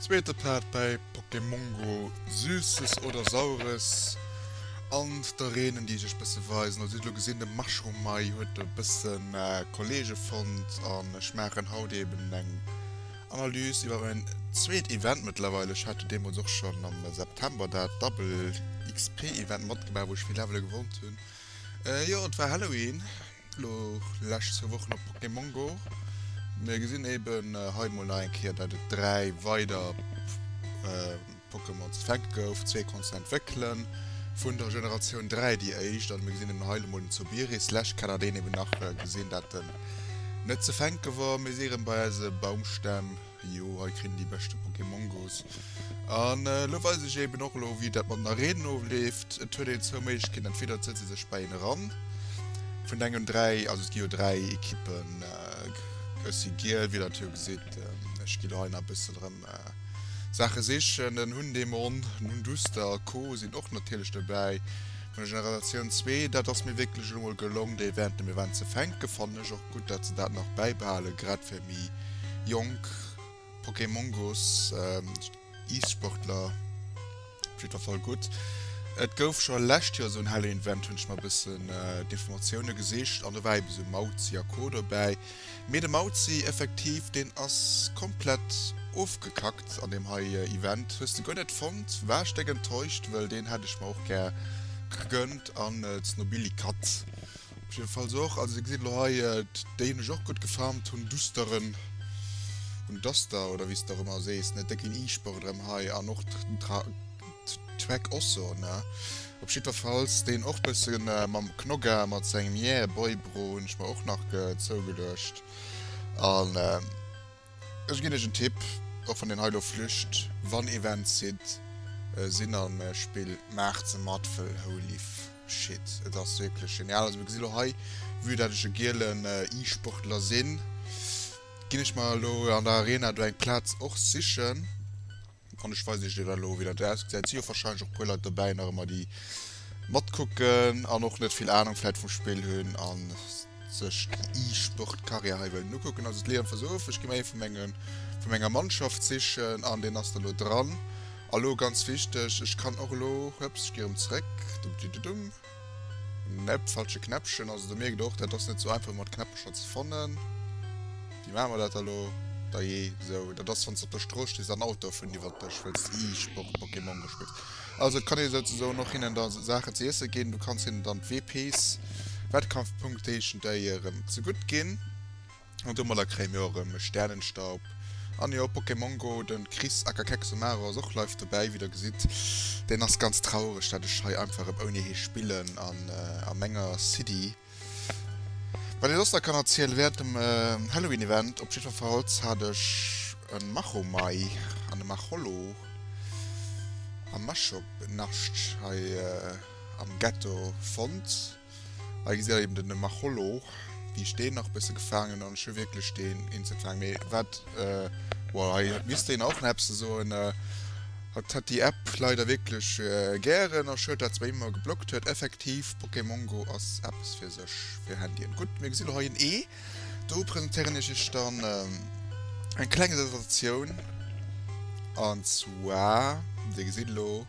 Zweete Plat bäi Pokémon Go, Süßes oder Saures an der Reen déi sech bësse weisen. Also dir hutt elo gesinn de Mushroom Mai huet e bësse Kollege fonnt an ech maachen haut eben eng Analyse iwwer en zweet Event mëttlerweil. Ech hat jo deemools och schonn am September dat Double XP Event matgemaach wou ech vill Levele gewonnt hunn. Jo et war Halloween. Lo lescht zwou Wochen op Pokémon Go. Mir gesinn eben hei mol nach eng Kéier, dat et dräi weider Pokémon ze fänke gouf. Zwee konnt een entwéckelen, vun der Generatioun 3 déi éischt. An mir gesinn eben hei mol den Zobiris. Lescht Kéier hat een eben nach gesinn, dat en net ze fänke war. Mir si erëm bei eise Baumstämm. Jo, hei kritt een déi beschte Pokémongos. An elo weis ech eben och elo, wéi dat mat den Arenen ofleeft. Et huet een zwou Méiglechkeeten, entweder et setze sech bei een eran, vun dengem dräi, also et gi jo dräi Ekippen, ech si giel, wéi der et jo gesitt, ech gi lo hei nach e bëssen erëm Saache sichen, den Hundemon, den Hunduster a co sinn och natierlech dobäi, vun der Generatioun zwee. Dat ass mir wierklech elo mol gelong, déi Evente mir waren ze fänken, fannen ech och. Gutt dat se dat nach bäibehalen, grad fir méi jonk Pokémongos, Ice-Sportler op jiddwer Fall gutt. Et gouf scho lescht Joer esou en hellen Event, hunn ech mer e bëssen d'Informatioune gesicht an do war eben esou Mauzi a Co dobäi, mee de Mauzi effektiv deen ass komplett ofgekackt an deem hei Event. Hues de guer net fonnt? War ech déck enttäuscht, wëll deen hätt ech mer och gär gegënnt an d'Snobilly Cat. Op jidde Falls och, also Dir gesitt elo hei, déi hunn ech och gutt gefarmt, hunn dusteren, hunn Duster oder wéi s de och ëmmer sees, net déck wéi en Iisberg erëm hei an och d'Treck Osso, ne? Op jiddwer Falls deen och bësse mam Knogga mat sengem Yeah Boy Bro hunn ech mer och nach zougeluecht an. Ech ginn iech en Tipp, och wann deen hei elo flücht, wann Events hit sinn an Spill, maacht se mat, wëll holy shit et ass wierklech genial. Also mir gesi lo hei, vue dat ech e gielen E-Sportler sinn, ginn ech mer elo an der Arena do eng Plaz och sichen. An ech weisen iech déi dann elo wéi dat ausgesäit. Et si jo wahrscheinlech och e puer Leit dobäi nach ëmmer déi matkucken an och net vill Ahnung vläit vum Spill hunn a sech déi E-Sport Carrière hei wëllen ukucken. Also d'Lea Emfers of, ech gi mer ee vu mengen, vu menger Mannschaft sichen an deen ass dann elo dran. A lo ganz wichteg, ech kann och elo, hueps, ech gi erëm zeréck, dumm-di-du-dumm. Nep, falsche Knäppchen. Also do mierkt och, dat ass net sou einfach mat Knäppecher ze fannen. Wéi maache mer dat elo? Da jee, sou. Dat ass wann s de op der Strooss stees an Autoe fueren iwwert dech, well s de e-Sport Pokémon gespillt. Also et kann ee souzesoen och hinnen da Saachen ze iesse ginn. Du kanns hinnen dann d'WPs, Wettkampfpunktéchen, déi hir zegutt ginn. An domadder kréie mir och erëm e Sternenstaub. An jo, Pokémon Go, de Chris aka Kexomarra ass och live dobäi, wéi der gesitt. Deen ass ganz traureg, datt ech hei einfach erëm ouni hie spillen an a menger City. Wat ech soss nach kann erzielen, Während dem Halloween Event op jiddwerfalls hat ech e Machomai an e Macholo am Mashop Nascht hei am Ghetto fonnt. Hei gesi eben den Machollo wéi ech deen nach bësse gefaangen an ech hu wierklech deen instant gefaangen mee wat well hei misst een och nach eppes soen hatt hat déi App leider wierklech gären a schued dat se bei him ëmmer geblockt huet effektiv Pokémon Go ass eppes fir sech fir Handyen. Gutt mir gesi lo hei en Ee do presentéieren ech iech dann eng kleng Sensatioun an zwar dir gesitt elo.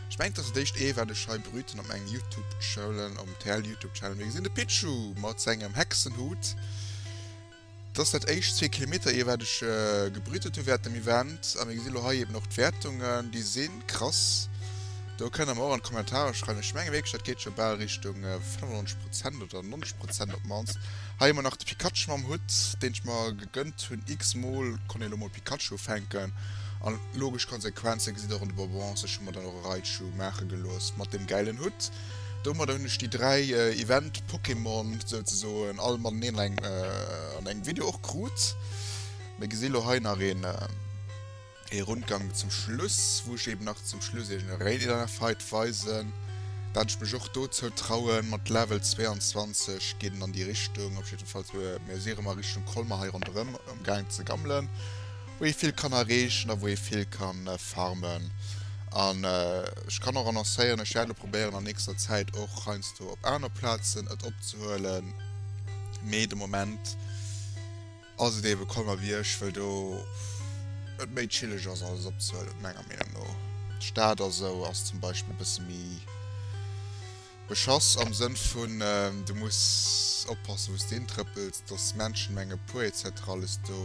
Ech mengen dass et éischt ee war de Schei Brüten op mengem Youtube Channel, op dem TL Youtube Channel wéi gesinn de Pichu mat sengem Hexenhut dass dat éischt zwee Kilometer ier wat ech gebrütet hu während dem Event a mir gesi lo hei eben och d'Wäertungen déi si krass. Do kënnt der mer och an d'Kommentarer schreiwen. Ech menge wierklech dat geet scho bal Richtung 95 Prozent oder 90 Prozent op d'mannst. Hei hu mer nach de Pikachu mam Hutt deen ech mer Gënnt hunn x-mol, konnt een elo mol Pikachu fänken, an logesch Konsequenze gesitt och an de Bonbons. Ech hu mer dann och e Raichu maache gelooss, mat deem gäilen Hutt. Domadder hunn ech déi dräi Event-Pokémon souzesoen all mateneen an engem Video och krut. Mir gesi lo hei nach een. Ee Rundgang zum Schluss, wou ech eben nach zum Schluss iech en Raid-Inner Fight weisen, dat ech mech och do zou trauen. Mat Level 22 geet en an déi Richtung, op jidde Fall mir si rem a Richtung Colmer hei ronderem um gaang ze gammelen, wou ee vill kann erreechen a wou ee vill kann farmen. An ech kann och annoncéieren, ech wäert elo probéieren an nächster Zäit och heiansdo op aner Plazen et opzehuelen, mee de Moment. Ass et eebe Conner wéi ech, wëll do et méi chilleg ass alles opzehuelen, menger Meenung no. D'Stad a sou ass zum Beispill e bësse méi beschass am Sënn vun du muss oppassen wou s de hintrëppels, dass d'Menschen menge puer etc. Alles do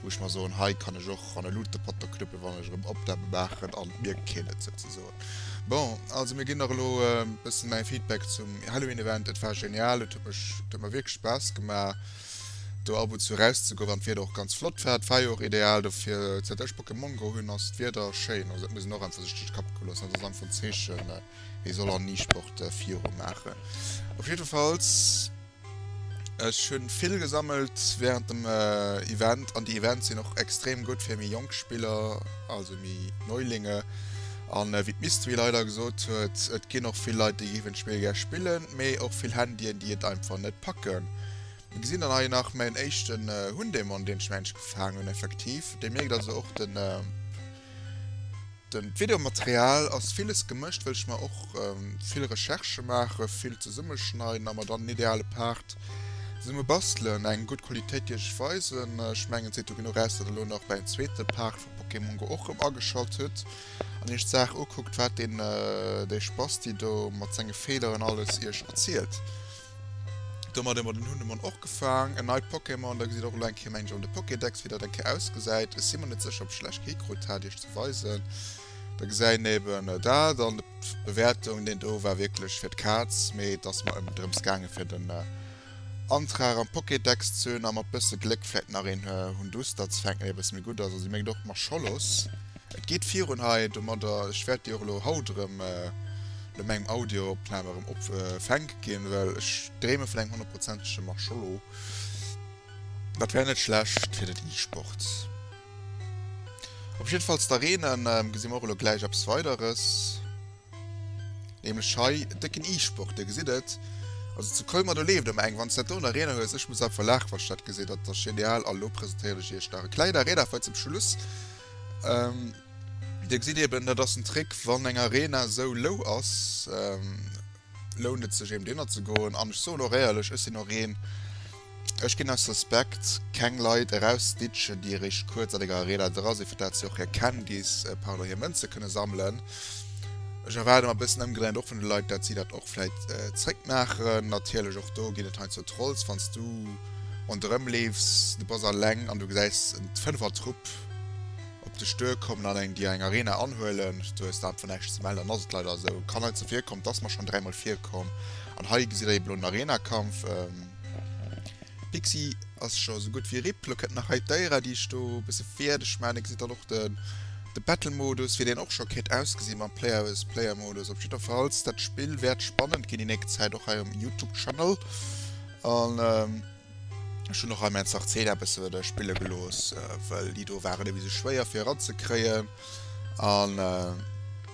wou ech mer soen, hei kann ech och an e Luutepotter knüppe wann ech erëm Opnamen maachen an et mierkt keen et souzesoen. Bon, also mir ginn nach elo e bësse mäi Feedback zum Halloween Event. Et war genial, et huet mech et huet mer wierklech Spaass gemaach. do ab und zu eraus ze goen, an d'Wieder och ganz flott war. Et war jo och ideal dofir. Säit ech Pokémon goer hunn, ass d'Wieder schéin. Also dat muss een och einfach sech duerch de Kapp goe loossen. Dat ass einfach en Zeechen, ee soll an ni Sport viru maachen. Op jiddefalls, ech hu vill gesammelt während dem Event, an déi Events sinn och extrem gutt fir méi jonk Spiller, also méi Neulinge. An wéi d'Mystery leider gesot huet, et ginn och vill Leit, déi géifen d'Spill gär spillen, mee och vill Handyen déi et einfach net packen. Mir gesinn dann hei nach mäin éischten äh, Hundemon deen ech mir eigentlech gefaangen hunn effektiv. Dir mierkt also och den äh, den d'Videomaterial ass villes gemëscht well ech mer och äh, vill Recherche maachen, vill zesummeschneiden a mer dann en ideale Part zesumme bastelen. Eng gutt Qualitéit déi ech iech weisen. Ech mengen et seet jo genuch aus dat elo nach bei en zweete Part Pokémon Go och rem ageschalt huet an iech d'Saach ukuckt waat deen dei Spasti do mat senge Fehleren alles iech erzielt. Domat hun mer den Hundemon och gefaang. En neit Pokémon, da gesidd och elo eng Kéier mengen ech an de Pokédex wéi daat eng Kéier ausgesait. Ech sin mer net secher op ech lech Kéier krut haat iech ze weisen. Da geseien eben daat an de Bewertung deen do war wierklech fir d'Kaatz, mee et ass mer eben drem's gaangen fir den Antrag am Pokédex ze hunn a mat bësse Gléck vläit nach een Hunduster ze fänken, deen e bësse méi gutt ass. Also, si mengt och Marscholos. Et geet virun hei domadder. Ech wäert déi och elo haut erëm no mengem Audioopnam erëm op fänke ginn, well ech dreeme vun engem honnertprozentege Marschollo. Dat wär net schlecht fir den E-Sport. Op jiddefalls d'Arenen gesi mer och elo gläich eppes weideres. Nämlech hei décken E-Sport, dir gesitt et. Also zu Colmar do leeft ëmmer eng, wann s dat do nach Reener hues. Ech muss einfach laachen, wann ech dat gesinn. Dat ass genial a lo presentéieren ech iech nach e kleng Arena Fact zum Schluss. Dir gesitt eben, dat ass den Trick, wann eng Arena esou lou ass, lount et sech eben driwwer ze goen. An ech soen och éierlech, ech sinn och een, Ech ginn aus Respekt keng Leit erausditschen, déi eréischt kuerz an enger Arena dra sinn, fir dat si och hir Can Gis, pardon, hir Mënze kënne sammelen. Ech erwaarde mer e bëssen ëmgedréint och vun de Leit, dat si dat och vläit zréck maachen. Natierlech och do ginn et heiansdo Trolls, wann s du ronderëm leefs, du bass alleng an du gesäis en Fënfertrupp op dech duer kommen an eng dir eng Arena anhuelen, du hues einfach näischt ze mellen, dann ass et leider esou. Kann heiansdo virkommen, et ass mer schonn dräimol virkomm. An hei gesitt der eben elo en Arenakampf. Pixi ass scho sou gutt wéi RIP. Lo kënnt nach hei d'Déierer, déi ech do e bësse fierdeg maachen. Dir gesitt dann och de Battle-Modus, wéi deen och scho kéint ausgesinn mam Player vs. Player-Modus. Op jiddwerfalls, dat Spill wäert spannend ginn déi nächst Zäit, och hei um Youtube-Channel. An ech hunn och hei mäin Sarceda e bësse weider spille gelooss, well déi do waren e bësse schwéier fir eranzekréien. An.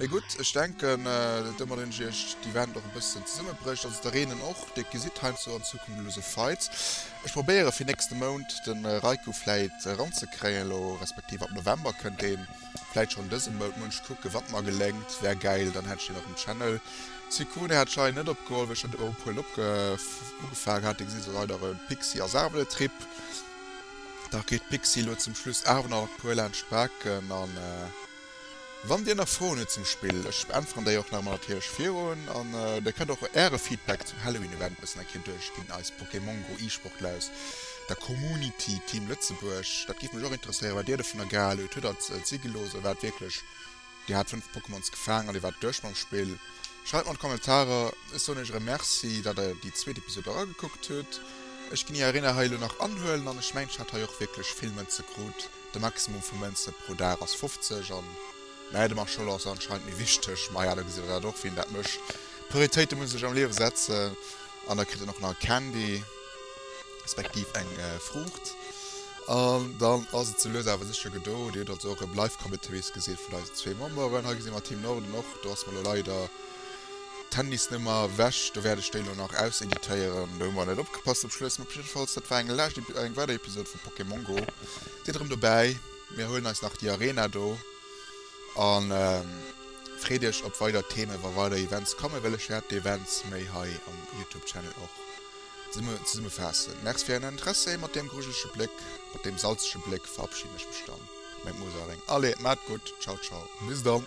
Mee gutt, ech denken, datt domat een Iech d'Event och e bësschen zesummebrécht. Also der eenen och, déi et gesitt heiansdo an Zukunft elo esou Fights. Ech probéiere fir nächste Mount de Reiku vläit eranzekréien elo, respektiv ab November kënnt deen. Vläit schonn dëse Mount, muss ech kucken, wat mer geléngt. Wär gäil, dann hätt ech deen op dem Channel. Sykkuno hat d'Schei net opgeholl, wéi ech scho drop huelen ugefaangen hat. Dir gesitt elo leider e Pixie a Saarbrëttrip. Dach geet d'Pixie elo zum Schluss awer nach e puer laanscht d'Baken an. Wann dir nach Froen hutt zum Spill, ech beäntweren déi och nach emol natierlech virun, an dir kënnt och äre Feedback zum Halloween Event bëssen enquer duerchginn, eis Pokémon Go E-Sportler aus der Community Team Lëtzebuerg, dat géif mech och interesséieren wat dir dovunner gehal hutt, hutt der et si gelooss a waart wierklech, dir hat 5 Pokémons gefaang an dir waart duerch mam Spill? Schreift mer an d'Kommentarer, ech soen iech erëm Merci dat der déi zweet Episode eragekuckt hutt, ech ginn ier Arena hei elo nach anhuelen an ech mengen ech hat hei och wierklech vill Mënze krut. De Maximum vu Mënze pro Dag ass 50 an mä de Marschall ass anscheinend méi wichteg. Maja da gesi mer dat och wien dat mécht. Prioritéite muss ee sech am Liewe setzen. An da kritt een och nach e Candy, respektiv eng Fruucht. An dann ass et sou lues awer sécher gedo. Dir hutt also och e Live Cometevis gesi vun eisen zwee Memberen. Hei gesi mer Team Norden och. Do ass mer elo leider d'Handysnummer ewech. Do wäert ech déi elo nach auseditéieren. Do hu mer net opgepasst zum Schluss. Mee op jiddefalls dat war eng lescht, eng weider Episod vu Pokémon Go. Sidd erëm dobäi, mir huelen eis nach déi Arena do a freet iech op weider Themen. Wa weider Events kommen, wëll ech wäert d'Events méi hei am Youtube Channel och zesummefaassen. Merci fir ären Interesse. Mat deem grujelege Bléck, mat deem salzege Bléck verabschieden ech mech dann meng Musereng. Allez, maacht gutt, ciao ciao, bis dann.